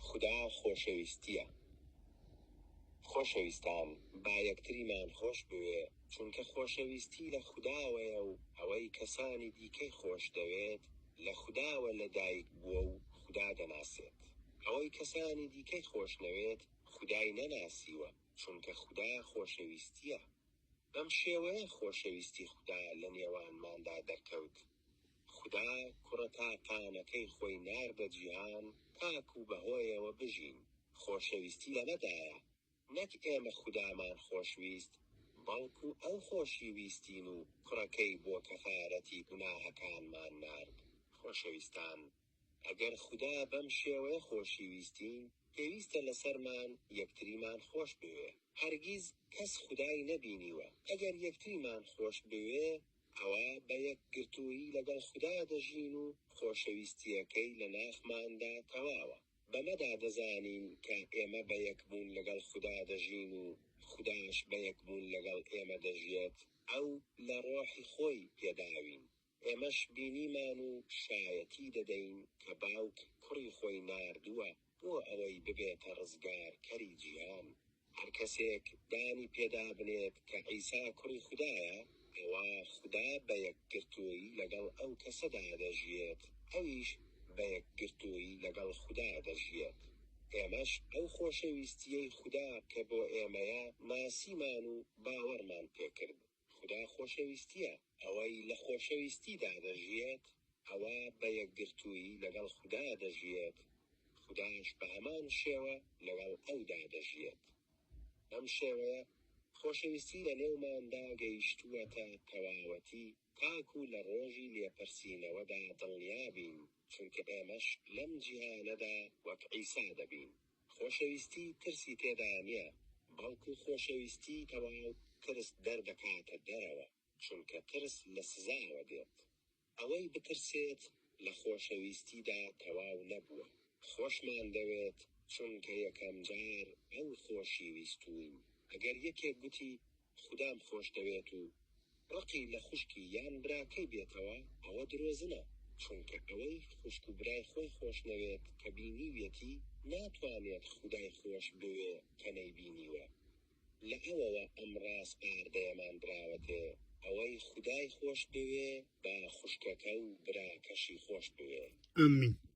خودا خۆشەویستیە خۆشەویستان با یەکتریمان خۆش بوێ چونکە خۆشەویستی لە خوداوەیە و ئەوەی کەسانی دیکەی خۆش دەوێت لە خوداوە لە دایک بووە و خودا دەناسێت ئەوەی کەسانی دیکەی خۆش نەوێت خودای نەناسیوە چونکە خودا خۆشەویستیە بەم شێوەیە خۆشەویستی خودا لە نێوانماندا دەرکەوت. خودا کوڕە تاکانەکەی خۆی ناردە جیهان تاکو بەهۆیەوە بژین، خۆشەویستی لەمەدایە نەک ئێمە خودامان خۆشویست بەڵکو ئەو خۆشی ویستین و کوڕەکەی بۆ کەفارەتی گوناهەکانمان نارد. خۆشەویستان ئەگەر خودا بەم شێوەیە خۆشی ویستین پێویستە لەسەرمان یەکتریمان خۆش بوێ، هەرگیز کەس خودای نەبینیوە ئەگەر یەکتریمان خۆش بوێ ئەوا بە یەکگرتوویی لەگەڵ خودا دەژین و خۆشەویستییەکەی لە ناخماندا تەواوە. بەمەدا دەزانین کە ئێمە بە یەکبوون لەگەڵ خودا دەژین و خوداش بە یەکبوون لەگەڵ ئێمە دەژیێت، ئەو لە ڕۆحی خۆی پێداوین، ئێمەش بینیمان و شایەتی دەدەین کە باوک کوڕی خۆی ناردووە، بۆ ئەوەی ببێتە ڕزگارکەری جیهان. هەر کەسێک دانی پێدابنێت کە عیسا کوڕی خودایە، ئەوا خودا بە یەکگرتوویی لەگەڵ ئەو کەسەدا دەژیێت، ئەویش بە یەکگرتوویی لەگەڵ خودا دەژیێت. ئێمەش ئەو خۆشەویستییەی خودا کە بۆ ئێمەیە ناسیمان و باوەڕمان پێکرد. خودا خۆشەویستییە، ئەوەی لە خۆشەویستیدا دەژیێت، ئەوە بە یەکگرتوویی لەگەڵ خودا دەژیێت، خوداش بە هەمان شێوە لەگەڵ ئەودا دەژیێت. بەم شێوەیە خۆشەویستی لە نێوماندا گەیشتووەتە تەواوەتی تاکوو لە ڕۆژی لێپرسینەوەدا دڵنیا بین، چونکە ئێمەش لەم جیهانەدا وەک عیسا دەبین. خۆشەویستی ترسی تێدا نیە بەڵکو خۆشەویستی تەواو ترس دەردەکاتە دەرەوە چونکە ترس لە سزاوە دێت ئەوەی بترسێت لە خۆشەویستیدا تەواو نەبووە خۆشمان دەوێت چونکە یەکەم جار ئەو خۆشی ویستوین ئەگەر یەکێک گوتی خودام خۆشدەوێت و ڕقی لە خوشکی یان براکەی بێتەوە ئەوە درۆزنە چونکە ئەوەی خوشک و برای خۆی خۆشنەوێت کە بینیویەتی ناتوانێت خودای خۆش بوێ کە نەیبینیوە لە ئەوەوە ئەم ڕاسپاردەیەمان دراوەتێ ئەوەی خودای خۆش بوێ با خوشکەکە و براکەشی خۆش بوێ. آمین.